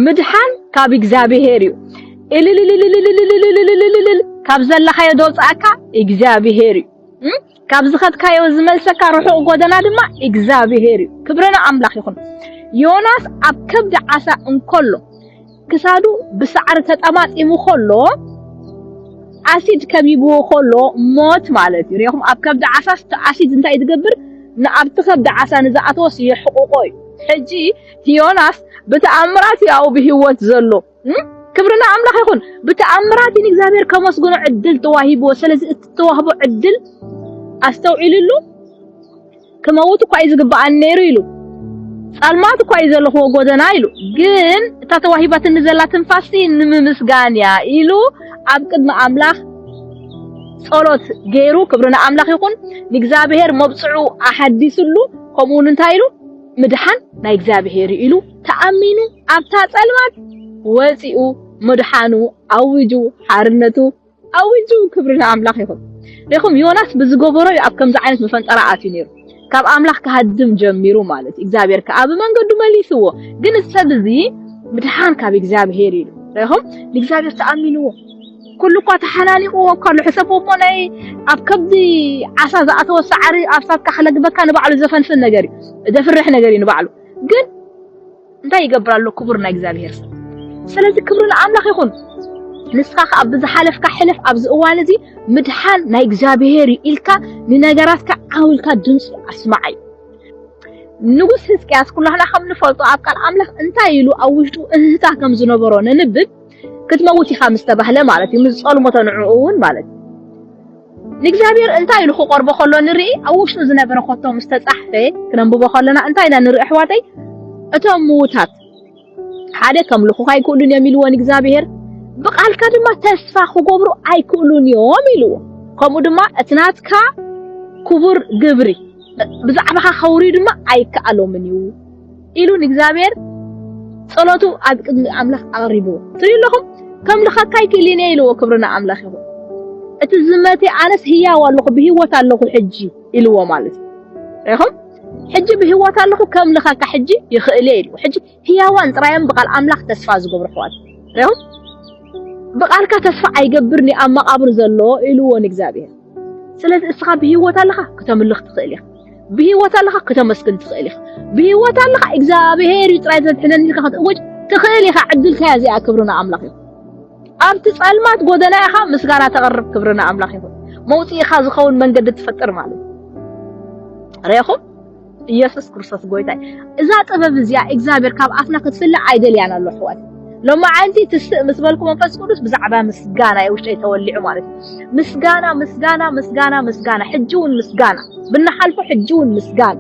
ምድሓን ካብ እግዚኣብሄር እዩ። እልልልልልልልልልልልልልልልል ካብ ዘለኻዮ ዘውፅኣካ እግዚኣብሄር እዩ። እም? ካብ ዝኸድካዮ ዝመልሰካ ርሑቕ ጎደና ድማ እግዚኣብሄር እዩ። ክብሪ ንኣምላኽ ይኹን። ዮናስ ኣብ ከብዲ ዓሳ እንከሎ ክሳዱ ብሳዕሪ ተጠማጢሙ ከሎ ኣሲድ ከቢብዎ ከሎ ሞት ማለት እዩ። ሪኢኹም ኣብ ከብዲ ዓሳ ኣሲድ እንታይ እዩ ዝገብር? ንኣብቲ ከብዲ ዓሳ ንዝኣተወስ የሕቑቖ እዩ። ሕጂ ዮናስ ብተኣምራት እዩ ኣብኡ ብህይወት ዘሎ። ክብሪ ንኣምላኽ ይኹን። ብተኣምራት እዩ ንእግዚኣብሔር ከመስግኖ ዕድል ተዋሂብዎ። ስለዚ እቲ ተዋህቦ ዕድል ኣስተውዒልሉ። ክመውት እኳ እዩ ዝግብኣኒ ነይሩ ኢሉ፣ ጻልማት እኳ እዩ ዘለኹዎ ጎደና ኢሉ፣ ግን እታ ተዋሂባትኒ ዘላ ትንፋስቲ ንምምስጋን እያ ኢሉ ኣብ ቅድሚ ኣምላኽ ጸሎት ገይሩ። ክብሪ ንኣምላኽ ይኹን። ንእግዚኣብሔር መብጽዑ ኣሓዲስሉ ከምኡውን እንታይ ኢሉ ምድሓን ናይ እግዚኣብሔር ኢሉ ተኣሚኑ ኣብታ ጸልማት ወጺኡ ምድሓኑ ኣዊጁ ሓርነቱ ኣዊጁ ክብሪ ንኣምላኽ ይኹን። ሪኹም ዮናስ ብዝገበሮ እዩ ኣብ ከምዚ ዓይነት መፈንጠራ ኣትዩ ነይሩ። ካብ ኣምላኽ ክሃድም ጀሚሩ ማለት እዩ። እግዚኣብሔር ከኣ ብመንገዱ መሊስዎ። ግን እዚ ሰብ እዚ ምድሓን ካብ እግዚኣብሔር ኢሉ ሪኹም ንእግዚኣብሔር ተኣሚንዎ ኩሉ እኳ ተሓናኒቕዎ እኳ ኣሎ፣ ሕሰቦ እሞ ናይ ኣብ ከብዲ ዓሳ ዝኣተወ ሳዕሪ ኣብ ሳትካ ክለግበካ ንባዕሉ ዘፈንፍን ነገር እዩ፣ ዘፍርሕ ነገር እዩ ንባዕሉ። ግን እንታይ ይገብር ኣሎ ክቡር ናይ እግዚኣብሄር ሰብ። ስለዚ ክብሪ ንኣምላኽ ይኹን። ንስኻ ከኣ ብዝሓለፍካ ሕለፍ፣ ኣብዚ እዋን እዚ ምድሓን ናይ እግዚኣብሄር እዩ ኢልካ ንነገራትካ ዓው ኢልካ ድምፂ ኣስማዕ እዩ። ንጉስ ህዝቅያስ ኩላህና ከም ንፈልጦ ኣብ ቃል ኣምላኽ እንታይ ኢሉ ኣብ ውሽጡ እህህታ ከም ዝነበሮ ነንብብ። ክትመውት ኢኻ ምስ ተባህለ ማለት እዩ፣ ምስ ዝጸልሞቶ ንዕኡ እውን ማለት እዩ። ንእግዚኣብሔር እንታይ ኢሉ ክቐርቦ ከሎ ንርኢ፣ ኣብ ውሽጡ ዝነበረ ኮቶ ምስ ተጻሕፈ ክነንብቦ ከለና እንታይ ኢና ንርኢ ኣሕዋተይ? እቶም ምዉታት ሓደ ከምልኹኻ ኣይክእሉን እዮም ኢልዎ ንእግዚኣብሔር፣ ብቃልካ ድማ ተስፋ ክገብሩ ኣይክእሉን እዮም ኢልዎ። ከምኡ ድማ እቲ ናትካ ክቡር ግብሪ ብዛዕባኻ ከውርዩ ድማ ኣይከኣሎምን እዩ። ኢሉ ንእግዚኣብሔር ጸሎቱ ኣብ ቅድሚ ኣምላኽ ኣቕሪብዎ ትሪኡ ኣለኹም ከም ልኸካይ ክእሊን እየ ኢልዎ ክብሪ ንኣምላኽ ይኹን እቲ ዝመተ ኣነስ ህያው ኣለኹ ብህይወት ኣለኹ ሕጂ ኢልዎ ማለት እዩ ሪኹም ሕጂ ብህይወት ኣለኹ ከም ልኸካ ሕጂ ይኽእል እየ ኢልዎ ሕጂ ህያዋን ጥራዮም ብቓል ኣምላኽ ተስፋ ዝገብሩ ኣሕዋት ሪኹም ብቓልካ ተስፋ ኣይገብርን ኣብ መቓብር ዘሎ ኢልዎ ንእግዚኣብሔር ስለዚ እስኻ ብህይወት ኣለኻ ክተምልኽ ትኽእል ኢኻ ብህይወት ኣለኻ ክተመስግን ትኽእል ኢኻ ብህይወት ኣለኻ እግዚኣብሄር እዩ ጥራይ ዘድሕነኒ ኢልካ ክትእወጅ ትኽእል ኢኻ ዕድልካ እያ እዚኣ ክብሪ ንኣምላኽ ይኹን ኣብቲ ጸልማት ጎደና ኢኻ ምስጋና ተቕርብ ክብሪ ንኣምላኽ ይኹን መውጽኢኻ ዝኸውን መንገዲ ትፈጥር ማለት እዩ ርኢኹም ኢየሱስ ክርስቶስ ጎይታይ እዛ ጥበብ እዚኣ እግዚኣብሔር ካብ ኣፍና ክትፍልዕ ኣይደልያን ኣሎ ኣሕዋት ሎማዓንቲ ትስእ ምስ በልኩ መንፈስ ቅዱስ ብዛዕባ ምስጋና እዩ ውሽጠይ ተወሊዑ ማለት እዩ ምስጋና ምስጋና ምስጋና ምስጋና ሕጂ እውን ምስጋና ብናሓልፎ ሕጂ እውን ምስጋና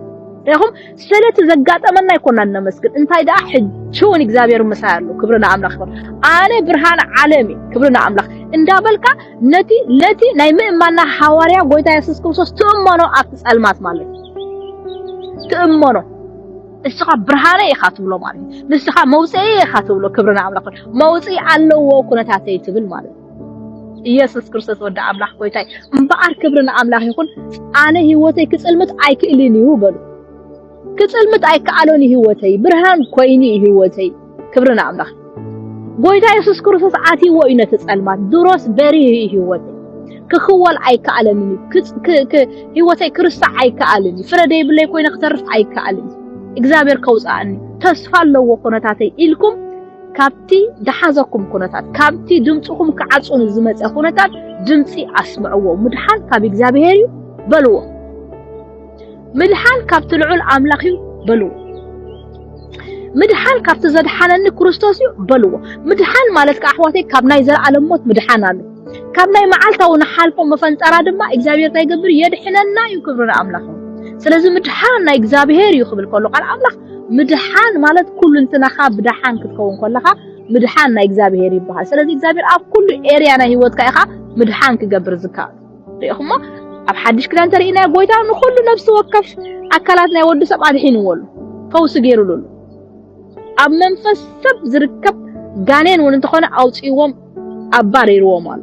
ይኹም ስለቲ ዘጋጠመና ይኮና እነመስግን እንታይ ደኣ ሕጂ እውን እግዚኣብሔር ምሳይ ኣሎ ክብሪ ንኣምላኽ ይኹን ኣነ ብርሃን ዓለም እዩ ክብሪ ንኣምላኽ እንዳበልካ ነቲ ነቲ ናይ ምእማና ሃዋርያ ጎይታ የሱስ ክርስቶስ ትእመኖ ኣብቲ ጸልማት ማለት እዩ ትእመኖ ንስኻ ብርሃነ ኢኻ ትብሎ ማለት እዩ። ንስኻ መውፅኢ ኢኻ ትብሎ ክብሪ ንኣምላኽ መውፅኢ ኣለዎ ኩነታተይ ትብል ማለት እዩ። ኢየሱስ ክርስቶስ ወዲ ኣምላኽ ጎይታይ እምበኣር ክብሪ ንኣምላኽ ይኹን። ኣነ ህይወተይ ክፅልምት ኣይክእልን እዩ በሉ። ክፅልምት ኣይከኣሎን ህይወተይ ብርሃን ኮይኑ ህይወተይ ክብሪ ንኣምላኽ ጎይታ የሱስ ክርስቶስ ዓትይዎ እዩ ነቲ ጸልማት ድሮስ በሪህ እዩ ህይወተይ ክኽወል ኣይከኣለንን እዩ ህይወተይ ክርስታዕ ኣይከኣልን እዩ ፍረ ደይብለይ ኮይነ ክተርፍ ኣይከኣልን እግዚኣብሔር ከውፅኣኒ ተስፋ ኣለዎ ኩነታተይ ኢልኩም ካብቲ ደሓዘኩም ኩነታት ካብቲ ድምፅኹም ክዓፅኑ ዝመፀ ኩነታት ድምፂ ኣስምዕዎ ምድሓን ካብ እግዚኣብሔር እዩ በልዎ ምድሓን ካብቲ ልዑል ኣምላኽ እዩ በልዎ። ምድሓን ካብቲ ዘድሓነኒ ክርስቶስ እዩ በልዎ። ምድሓን ማለት ከዓ ኣሕዋተይ ካብ ናይ ዘለዓለም ሞት ምድሓን ኣሎ። ካብ ናይ መዓልታዊ ንሓልፎ መፈንጠራ ድማ እግዚኣብሔር እንታይ ይገብር የድሕነና እዩ። ክብሪ ንኣምላኽ እዩ። ስለዚ ምድሓን ናይ እግዚኣብሔር እዩ ክብል ከሎ ቃል ኣምላኽ ምድሓን ማለት ኩሉ እንትናኻ ብደሓን ክትከውን ከለኻ ምድሓን ናይ እግዚኣብሔር ይበሃል። ስለዚ እግዚኣብሔር ኣብ ኩሉ ኤርያ ናይ ህይወትካ ኢኻ ምድሓን ክገብር ዝከኣል። ርኢኹሞ ኣብ ሓድሽ ክዳን ተርእናዮ ጎይታ ንኹሉ ነብሲ ወከፍ ኣካላት ናይ ወዲ ሰብ ኣድሒንዎ ኣሎ ፈውሲ ገይሩሉ ኣሎ ኣብ መንፈስ ሰብ ዝርከብ ጋኔን እውን እንተኾነ ኣውፅዎም ኣባሪርዎም ኣሎ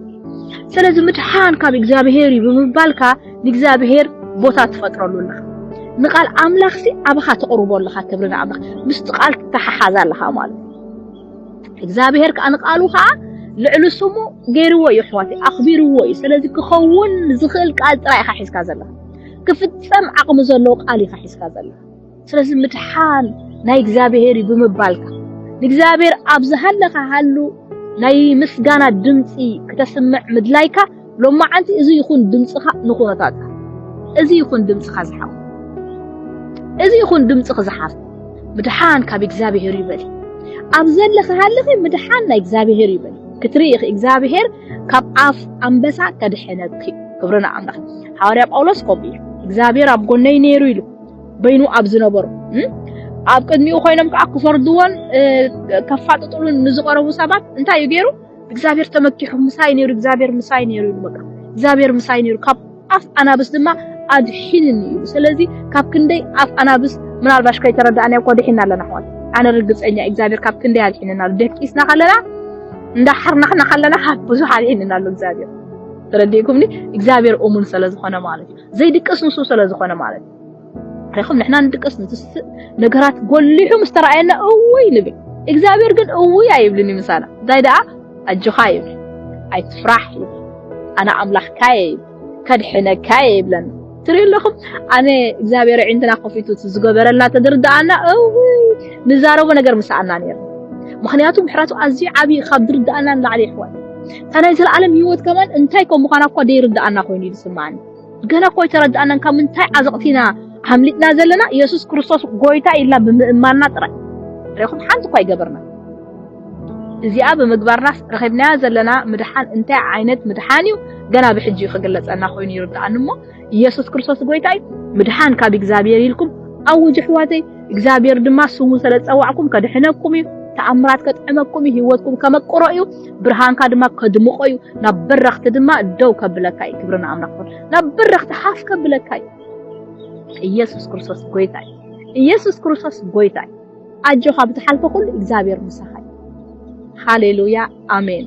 ስለዚ ምድሓን ካብ እግዚኣብሄር እዩ ብምባልካ ንእግዚኣብሄር ቦታ ትፈጥረሉ ኣለኻ ንቃል ኣምላኽሲ ኣባኻ ተቕርቦ ኣለኻ ክብሪ ንኣምላኽ ምስቲ ቃል ትተሓሓዝ ኣለኻ ማለት እግዚኣብሔር ከዓ ንቃሉ ከዓ ልዕሊ ስሙ ገይርዎ እዩ ኣሕዋተይ ኣኽቢርዎ እዩ ስለዚ ክኸውን ዝኽእል ቃል ጥራይ ኢኻ ሒዝካ ዘለኻ ክፍጸም ዓቕሚ ዘለዎ ቃል ኢኻ ሒዝካ ዘለኻ ስለዚ ምድሓን ናይ እግዚኣብሔር እዩ ብምባልካ ንእግዚኣብሔር ኣብ ዝሃለኻ ሃሉ ናይ ምስጋና ድምፂ ክተስምዕ ምድላይካ ሎማዓንቲ እዚ ይኹን ድምጽኻ ንኹነታትካ እዚ ይኹን ድምጽኻ ዝሓው እዚ ይኹን ድምጽኺ ዝሓፍ ምድሓን ካብ እግዚኣብሄር እዩ በሊ ኣብ ዘለኺ ሃለኺ ምድሓን ናይ እግዚኣብሄር እዩ በሊ ክትርኢ ኢኺ እግዚኣብሄር ካብ ኣፍ ኣንበሳ ከድሕነኪ ክብሪ ንኣምላኽ ሓዋርያ ጳውሎስ ከምኡ እዩ እግዚኣብሄር ኣብ ጎነይ ነይሩ ኢሉ በይኑ ኣብ ዝነበሩ ኣብ ቅድሚኡ ኮይኖም ከዓ ክፈርድዎን ከፋጥጥሉን ንዝቐረቡ ሰባት እንታይ እዩ ገይሩ እግዚኣብሔር ተመኪሑ ምሳይ ነይሩ እግዚኣብሔር ምሳይ ነይሩ ኢሉ በቃ እግዚኣብሔር ምሳይ ነይሩ ካብ ኣፍ ኣናብስ ድማ ኣድሒንኒ ኢሉ ስለዚ ካብ ክንደይ ኣፍ ኣናብስ ምናልባሽ ከይተረዳእና እኮ ድሒና ኣለና ኣሕዋት ኣነ ርግፀኛ እግዚኣብሔር ካብ ክንደይ ኣድሒንና ኣሎ ደቂስና ከለና እንዳሓርናሕና ከለና ካብ ብዙሕ ኣድሒንና ኣሎ እግዚኣብሔር ተረዲእኩምኒ እግዚኣብሔር እሙን ስለ ዝኾነ ማለት እዩ ዘይድቅስ ንሱ ስለ ዝኾነ ማለት እዩ ረኸም ንሕና ንድቀስ ንትስፍእ ነገራት ጎሊሑ ምስ ተራእየና እውይ ንብል እግዚኣብሔር ግን እውይ ኣይብልን እዩ ምሳና እንታይ ደኣ ኣጆኻ ይብል ኣይትፍራሕ ይብል ኣነ ኣምላኽካ እየ ይብል ከድሕነካ እየ ይብለና ትሪኡ ኣለኹም ኣነ እግዚኣብሔር ዕንትና ከፊቱ ዝገበረልና ተድርዳኣና እውይ ንዛረቦ ነገር ምሳኣና ነይሩ ምክንያቱ ምሕረቱ ኣዝዩ ዓብዪ ካብ ድርዳኣና ንላዕሊ ይሕዋት እታ ናይ ዘለኣለም ሂወት ከማን እንታይ ከም ምዃና እኳ ደይርዳኣና ኮይኑ እዩ ዝስምዓኒ ገና እኮ ኣይተረድኣናን ካብ ምንታይ ዓዘቕቲ ኢና ኣምሊጥና ዘለና ኢየሱስ ክርስቶስ ጎይታ ኢልና ብምእማንና ጥራይ ርኢኹም ሓንቲ እኳ ኣይገበርና እዚኣ ብምግባርናስ ረኺብናያ ዘለና ምድሓን እንታይ ዓይነት ምድሓን እዩ ገና ብሕጂ እዩ ክግለጸና ኮይኑ ይርድኣኒ እሞ ኢየሱስ ክርስቶስ ጎይታ እዩ ምድሓን ካብ እግዚኣብሔር ኢልኩም ኣውጅ ኣሕዋተይ እግዚኣብሔር ድማ ስሙ ስለ ዝጸዋዕኩም ከድሕነኩም እዩ ተኣምራት ከጥዕመኩም እዩ ህይወትኩም ከመቅሮ እዩ ብርሃንካ ድማ ከድምቆ እዩ ናብ በረኽቲ ድማ ደው ከብለካ እዩ ክብሪ ንኣምላኽ ይኹን ናብ በረኽቲ ሓፍ ከብለካ እዩ ኢየሱስ ክርስቶስ ጎይታ እዩ ኢየሱስ ክርስቶስ ጎይታ እዩ ኣጆኻ ብትሓልፎ ኩሉ እግዚኣብሔር ምሳኻ እዩ ሃሌሉያ ኣሜን